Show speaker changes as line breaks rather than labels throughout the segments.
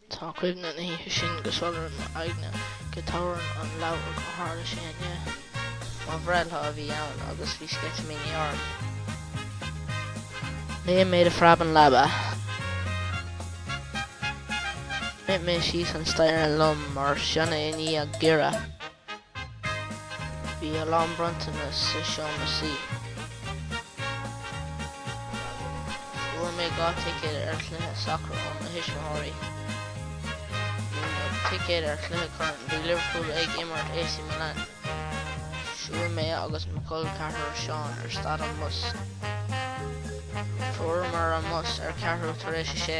Tá cuimhne na hoíche sin go soiléir i m'aigne, go dtabharfainn an leabhar gur tharla sé inné. Mo bhreithlá a bhí ann agus bhí sceitimíní orm. Léim mé de phreab ón leaba. Rith mé síos an staighre lom mar sionnach i ndiaidh giorria. Bhí a lán bronntanas sa seomra suí. Fuair mé dhá ticéad ar chluiche sacair ó mo thuismitheoirí. Ticéad ar chluiche corn. Bhí Liverpool ag imirt AC Milan. Shiúil mé agus mo chol ceathrair Seán ar stad an bhus. Fuaireamar an bus ar ceathrú tar éis a sé.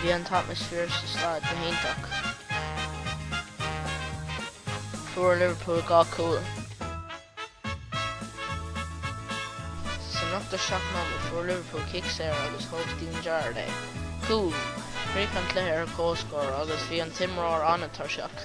Bhí an t-atmaisféar sa staid go hiontach. Fuair Liverpool dhá cúl. Sa ochtó seacht nóiméad fuair Liverpool cic saor agus thóg Steven Gerrard é. Cúl! Chríoch an cluiche ar comhscór agus bhí an t-imreoir an-tuirseach.